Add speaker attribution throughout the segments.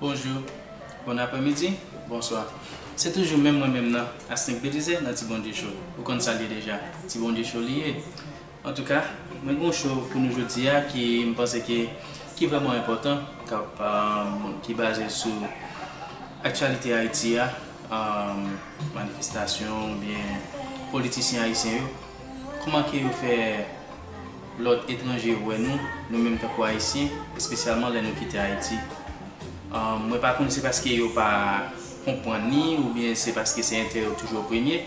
Speaker 1: Bonjou, bon aprè midi, bonswa. Se toujou menm mwen menm nan, Asnink Belizaire nan Ti Bondye Show. Ou konn sa l ye deja, Ti Bondye Show li ye. Antouka, mwen gen yon show pou nou jodi a ki m panse ke ki vrèman enpòtan, k ap ki baze sou aktyalite Ayiti a, manifestasyon oubyen politisyen ayisyen yo. Kman ke yo fè lòt etranje wè nou, nou menm tankou ayisyen, espesyalman lè nou kite Ayiti? Mwen pa konn se paske yo pa konpwann ni oubyen se paske se enterè yo toujou an premye,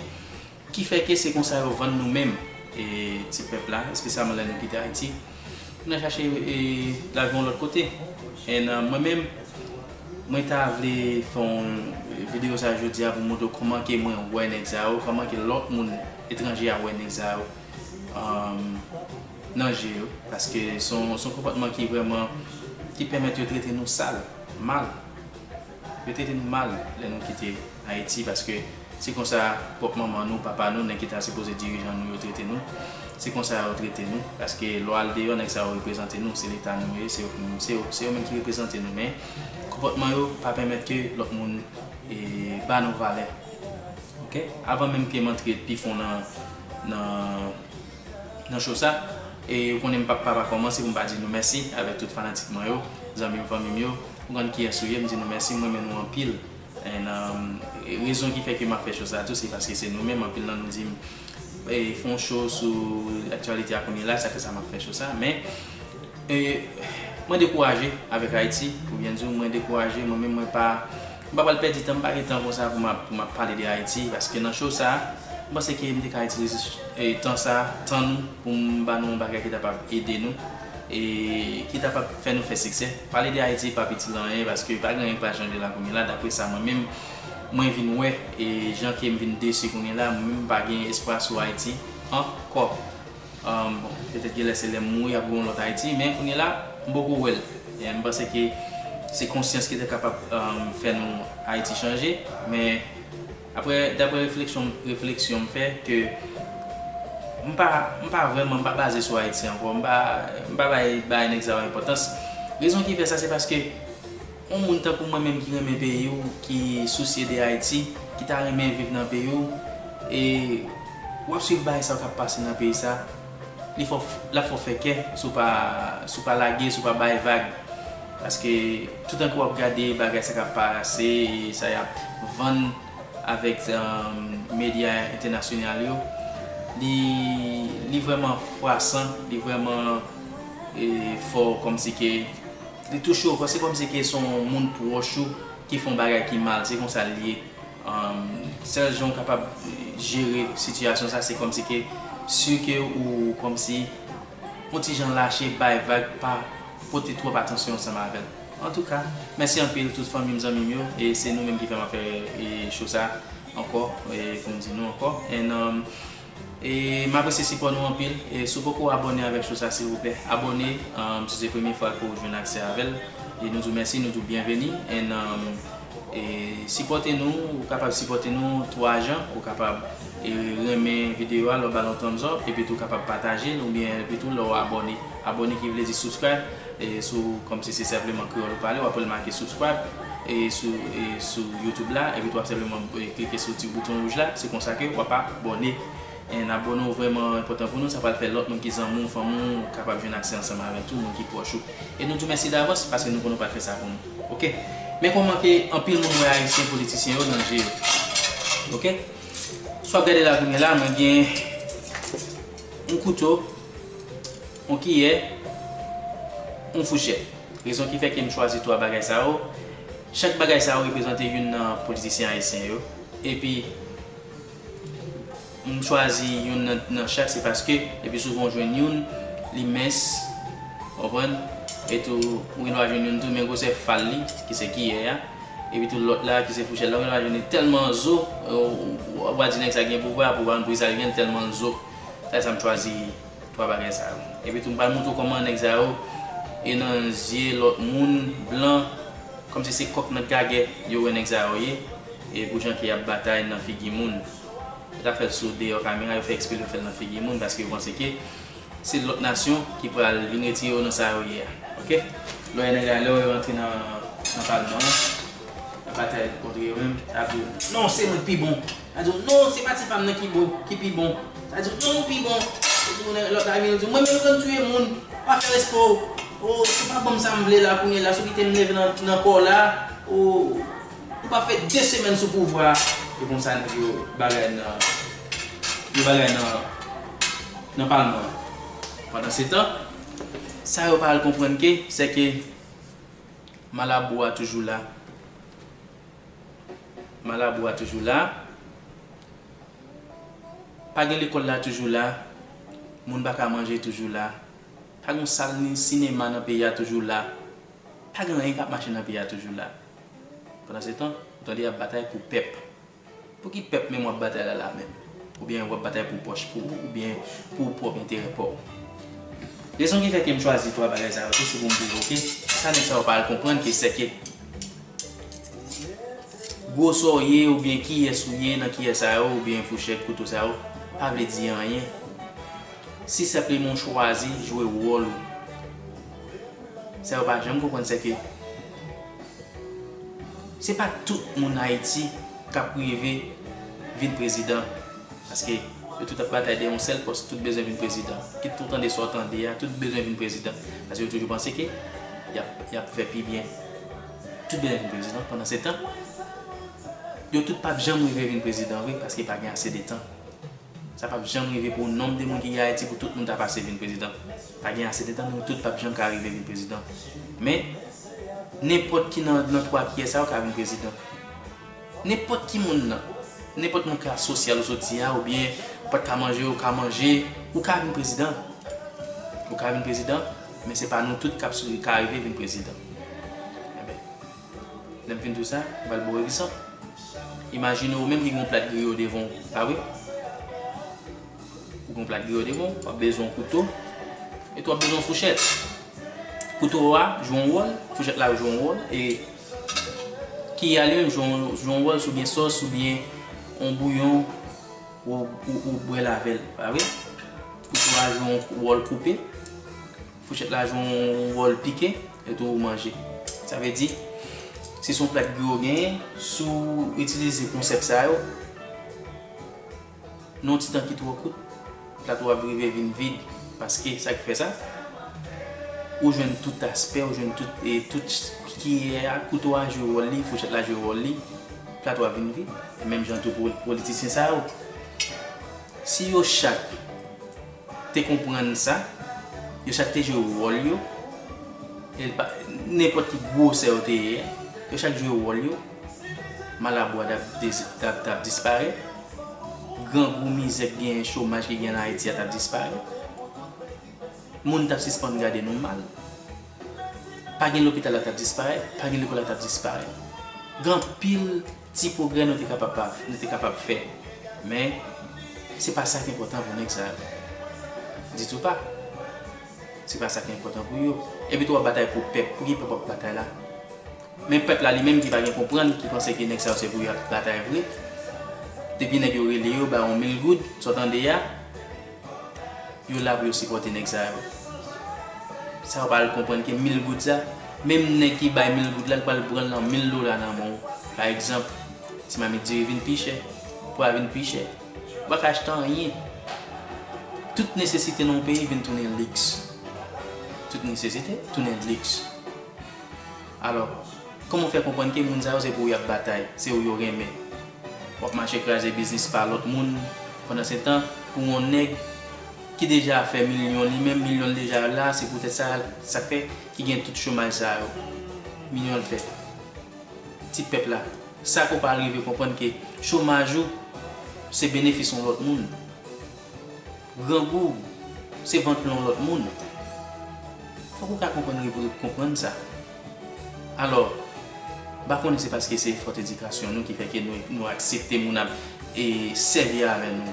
Speaker 1: ki fè ke se konsa yo vann nou menm ti pèp la, espesyalman lè nou kite Ayiti pou n al chache lavi yon lòt kote. And mwen menm, mwen ta vle fè yon video sa jodi a pou m montre w kman ke mwen wè nèg sa yo, kman ke lòt moun. Etranje a wè nèg sa yo nan je yo paske son konpòtman ki vrèman ki pèmèt yo trete nou sal, mal. Yo trete nou mal lè nou kite Ayiti paske se konsa pwòp manman nou, papa nou, nèg ki ta sipoze dirijan nou yo trete nou. Se konsa yo trete nou paske lè w al deyò nèg sa yo reprezante nou, se leta nou yo ye, se yo menm ki reprezante nou men konpòtman yo pa pèmèt ke lòt moun ba nou valè. Ok avan menm kem antre pi fon nan nan show sa e ou konnen m pap pa pa komanse pou m pa di nou mèsi avek tout fanatik mwen yo zanmim fanmim yo ou konn kiyes ou ye m di nou mèsi m renmen nou anpil en rezon ki fè ke map fè show sa tou se paske se nou menm anpil nan nou dim fon show sou aktyalite a kounye la se pou sa map fè show sa men mwen dekouraje avek Haïti pou byen di w mwen dekouraje mwen menm mwen pa M pa pral pèdi tan, m pa gen tan konsa pou m ap pou m ap pale de Ayiti paske nan show sa, m panse ke m te ka itilize tan sa, tan nou pou m ba nou yon bagay ki ta pab ede nou e ki ta pab fè nou fè siksè. Pale de Ayiti pap itil anyen paske pa gen anyen ki pral chanje la kounye la dapre sa mwen menm mwen vin wè e jan ke m vin desi kounye la, mwen menm m pa gen espwa sou Ayiti ankò. Bon, petèt genlè se lèm mouri ap gen yon lòt Ayiti, men kounye la m poko wè l. M panse ke se konsyans ki te kapab fè nou Ayiti chanje, men aprè daprè refleksyon refleksyon m fè ke m pa m pa vrèman m pa baze sou Ayiti ankò, m pa m pa bay bagay nèg sa yo enpòtans. Rezon ki fè sa se paske On moun tankou mwen menm ki renmen peyi w, ki sousye de Ayiti, ki ta renmen viv nan peyi w, e w ap swiv bagay sa yo k ap pase nan peyi sa, li fè w, l ap fè w fè kè si w pa, si w pa lage, si w pa bay vag. Paske toutan ke w ap gade bagay sa k ap pase e sa y ap vann avèk medya entènasyonal yo, li, li vrèman fwasan, li vrèman fè w kòmsi ke. Li touche w fò se kòmsi ke se yon moun pwòch ou ki fè yon bagay ki mal se konsa l ye sèl jan w kapab jere sitiyasyon sa se kòmsi ke si ke ou kòmsi yon ti jan lache bay vag pa pote twòp atansyon ansanm avè l antouka mèsi anpil tout fanmi m zanmi m yo e se nou menm ki fè m ap fè show sa ankò pou m di nou ankò en. M apresye sipò nou anpil e si w poko abòne avèk show sa silvouplè abòne si se premye fwa ke w jwenn aksè avèl e nou di w mèsi nou di w byenveni and sipòte nou ou kapab sipòte nou 3 jan ou kapab renmen videyo a lè w bal yon thumbs up epi tou kapab patajel oubyen epi tou lè w abòne. Abone ki vle di subscribe e sou kòmsi se senpleman kreyòl ou pale wap al make subscribe e sou e sou YouTube la epi tou wap senpleman klike sou ti bouton wouj la se konsa ke wap a bòne en abòne ou vrèman enpòtan pou nou sa pral fè lòt moun ki zanmi w fanmi w kapab jwenn aksè ansanm avèk tou moun ki pwòch ou e nou di w mèsi davans paske nou konnen w pral fè sa pou nou ok men kòman ke anpil moun wè ayisyen politisyen yo nan je yo ok sou wap gade la goumen la mwen gen. Yon kouto, yon kiyè, yon fouchèt. Rezon ki fè ke m chwazi 3 bagay sa yo, chak bagay sa yo reprezante youn nan politisyen ayisyen yo. Epi, m chwazi youn nan chak se paske le pi souvan ou jwenn youn, li mens, ou konprann, etou ou gen dwa jwenn youn tou men gwosè fal li, ki se kiyè a. Epitou lòt la ki se fouchèt la menm la jwenn tèlman zo wap wap di nèg sa gen pouvwa, pouvwa an brisal gen tèlman l zo se la sa m chwazi 3 bagay sa yo epitou m pral montre w kòman nèg sa yo e nan zye lòt moun blan kòmsi se kòk nan gagè yo wè nèg sa yo ye e pou jan ke yap batay nan figi moun yo ta fèl sou deyò kamera yo fè eksprè pou yo fèl nan figi moun paske yo panse ke Se lot nasyon ki pral vin retire yo nan sa yo ye a ok. Lòyè nèg la lèw yo antre nan nan palman an nan batay kontre yo menm sa ap diw non se mwen ki pi bon sa diw non se pati pam nan ki bon ki pi bon sa diw non ou pi bon epi kounye lòt la vini diw mwen menm konn tiye moun pa fè respè w oo se pa banm sam vle la kounye la sou kite m nève nan kòw la oo. Ou pa fè 2 semèn sou pouvwa a e konsa nèg yo bagay nan yo bagay nan nan palman an. Pandansetan, sa yo pa al konprann ke sè ke malabou a toujou la. Malabou a toujou la. Pa gen lekòl la toujou la. Moun pa ka manje toujou la. Pa gen yon sal ni sinema nan peyi a toujou la. Pa gen anyen k ap mache nan peyi a toujou la. Pandansetan, ou tande y ap batay pou pèp. Pou ki pèp menm w ap batay la la menm? Oubyen w ap batay pou pòch pa w oubyen pou pwòp enterè pa w? Rezon ki fè ke m chwazi 3 bagay sa yo tou se pou m pwovoke, sa nèg sa yo pa al konprann ke sèke gwo sa w ye oubyen kiyès ou ye nan kiyè sa yo oubyen fouchèt, kouto sa yo pa vle di anyen si senpleman w chwazi jwe wòl ou. Sa yo pa janm konprann sèke. Se pa tout moun Haiti kap rive vin prezidan paske yo tout ap batay dèyè yon sèl pòs tout bezwen vin prezidan kit ou tande sa ou tande a tout bezwen vin prezidan paske yo toujou panse ke yap fè pi byen tout bezwen vin prezidan pandan se tan yo tout pap janm rive vin prezidan vre paske pa gen ase de tan sa pap janm rive pou nonb de moun ki gen Haiti pou tout moun ta pase vin prezidan. Pa gen ase de tan nou tout pap janm ka rive vin prezidan men nenpòt ki nan nan 3 kiyè sa yo ka vin prezidan nenpòt ki moun nan nenpòt moun klas sosyal ou soti a oubyen ou pat ka manje ou ka manje ou ka vin prezidan ou ka vin prezidan men se pa nou tout kap ka rive vin prezidan. Lè m fin di w sa, m pral ba w egzanp. Imajine ou menm ki gen yon plat griyo devan w, pa vre? Ou gen yon plat griyo devan w, w ap bezwen yon kouto e tou w ap bezwen yon fouchèt. Kouto a jwe yon wòl, fouchèt la jwe yon wòl e kiy a li menm jwe yon wòl si w gen sòs oubyen yon bouyon ou bwèl avè l, pa vre? Kouto a jwe yon wòl koupe. Fouchèt la jwe yon wòl pike etou ou manje. Sa vle di, si se yon plat gri ou genyen, si w itilize konsèp sa yo, nan yon ti tan ki twò kout, plat ou ap rive vin vid. Paske, sa ki fè sa, ou jwenn tout aspè, ou jwenn tout, e tout kiyè a, kouto a jwe wòl li, fouchèt la jwe wòl li, plat ou a vin vid. Menm jan tou pou politisyen sa yo. Si yo chak. te konprann sa, yo chak te jwe wòl yo, nenpòt ki gwosè yo te ye a, yo chak jwe wòl yo, malabwa t ap disparèt, grangou, mizè k genyen, chomaj ki genyen an Ayiti a t ap disparèt, moun t ap sispann gade nou mal, pa gen lopital la t ap disparèt, pa gen lekòl la t ap disparèt. Gen anpil Ti pwogrè nou te kapab pa, nou te kapab fè, men se pa sa k enpòtan pou nèg sa yo. Ditou pa. Se pa sa ki enpòtan pou yo. Epi tou w ap batay pou pèp. Pou ki pèp w ap batay la? Men pèp la li menm ki pa gen konprann, ki panse ke nèg sa yo se pou yo y ap batay vre. Depi nèg yo rele yo, ba yon mil goud, sa w tande a. Yo la pou yo sipòte nèg sa yo. Sa yo pa al konprann ke mil goud sa, menm nèg ki bay mil goud la, li pral pran l nan mil dola nan men w. Pa egzanp, ti mamit diri vin pi chè, pwa vin pi chè. Ou pa ka achte anyen. Tout nesesite nan yon peyi vin tounen liks. Tout nesesite tounen liks. Alò, kòman w fè konprann ke moun sa yo se pou ou y ap batay, se ou yo renmen? W ap mache kraze biznis pa lòt moun, pandansetan, pou yon nèg ki deja ap fè milyon li menm, milyon l deja la, se poutèt sa, sa k fè ki gen tout chomaj sa yo. Milyon l fèt. Ti pèp la, sa ke w pa rive konprann ke chomaj ou se benefis yon lòt moun. Grangou se vant yon lòt moun. Fòk ou ka konprann Repiblik konprann sa. Alò, m pa konnen se paske se fòt edikasyon nou ki fè ke nou aksepte moun ap sèvi avè nou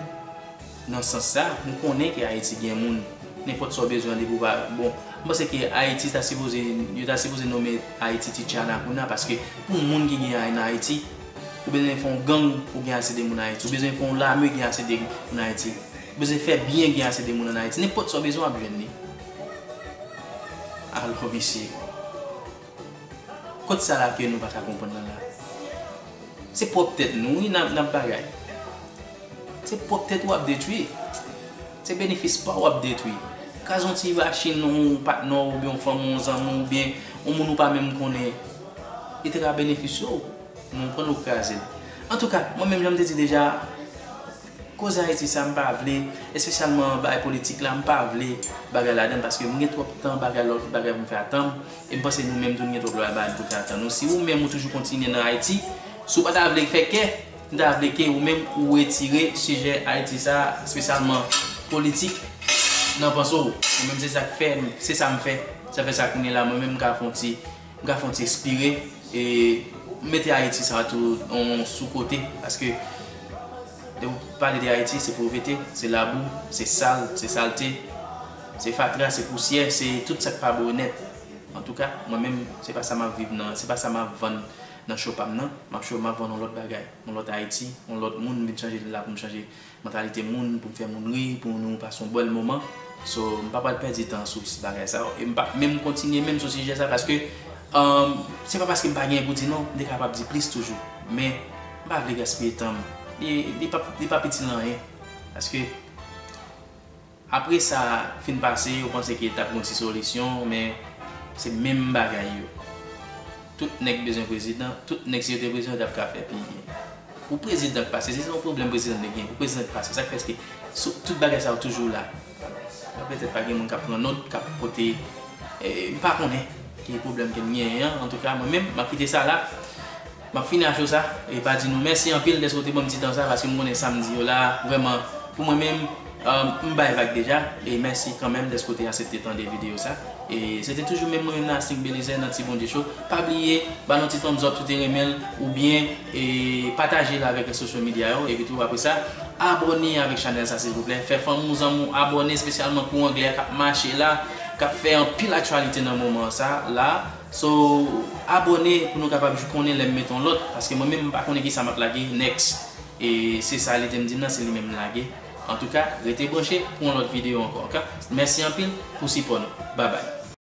Speaker 1: nan sans sa. M konnen ke Ayiti gen moun, nenpòt sa ou bezwen an depi ou pa bon. M panse ke Ayiti ta sipoze, yo ta sipoze nome Ayiti Ti Tchana kounye a paske pou moun ki gen Ayiti, Ou bezwen fè yon gang pou gen ase de moun Ayiti. Ou bezwen fè yon lame gen ase de moun Ayiti. Ou bezwen fè byen gen ase de moun an Ayiti. Nenpòt sa w bezwen w ap jwenn li. Alò mesye, kot sa la ke nou pa ka konprann nan la? Se pwòp tèt nou wi n ap bagay. Se pwòp tèt ou w ap detwi. Se benefis pa w w ap detwi. Kraze yon ti vachin yon patnè w oubyen yon fanmi w, yon zanmi w oubyen yon moun ou pa menm konnen. Li te ka benefisye w, men ou konn ou kraze l. Antouka, mwen menm jan m te di deja, koze Ayiti sa m pa vle, espesyalman bagay politik la, m pa vle bagay ladan l paske m gen twòp tan bagay lòt bagay pou m fè ak tan m e m panse nou menm tou nou gen twòp lòt bagay pou n fè ak tan nou. Si ou menm ou toujou kontinye nan Ayiti, si w pa ta vle fè kè, m ta vle ke ou menm ou retire sijè Ayiti sa, espesyalman politik nan panse w. Mwen menm se sa k fè, se sa m fè. Sa fè sa kounye la mwen menm m ka fè yon ti. Ga fon ti espire e m mete Ayiti sa tou on sou kote paske lè ou pale de Ayiti se povrete, se labou, se sal, se salte, se fatra, se pousyè, se tout sa k pa bon nèt. Antouka, mwen menm se pa sa m ap viv nan, se pa sa m ap vann nan cho pa m nan. M ap cho, m ap vann on lòt bagay, on lòt Ayiti, on lòt moun m vin chanje la pou m chanje Mantalite moun pou m fè moun ri, pou nou pase yon bèl moman. So, m pa pral pèdi tan sou bagay sa yo. E m pap menm kontinye menm sou sijè sa paske se pa paske m pa genyen pou di non, m te kapab di plis toujou. Men, m pa vle gaspiye tan m. Li pap itil nan anyen. Paske. Apre sa fin pase yo panse ke tap gon ti solisyon men se menm bagay yo tout nèg bezwen prezidan tout nèg si yo te prezidan yo tap ka fè pi byen pou prezidan k pase se se yon pwoblèm prezidan te gen pou prezidan k pase sak fè se tout bagay sa yo toujou la bon petèt pa gen moun kap pran not kap pote m pa konnen ki pwoblèm ke n genyen an antouka mwen menm map kite sa la. Map fini ak show sa, e pa di nou mèsi anpil dèske ou te banm ti tan sa paske m konnen sam di yo la vrèman pou mwen menm m bay vag deja e mèsi kanmenm dèske ou te asepte tande videyo sa e se te toujou menm mwen menm nan Asnig Belizaire nan Ti Bondye Show pa bliye ba l yon ti thumbs up si w te renmen l oubyen e pataje l avèk social media yo epitou apre sa abòne avèk chanèl sa silvouplè fè fanmi w zanmi w abòne espesyalman pou anglè a kap mache la kap fè anpil aktyalite nan moman sa la. So abone pou nou kapab jou konnen lèm met yon lòt paske mwen menm m pa konnen kisa map lage next e se sa li tem dim nan se li menm m lage antouka rete branche pou yon lòt video ankò ok mèsi anpil pou sipò nou babay.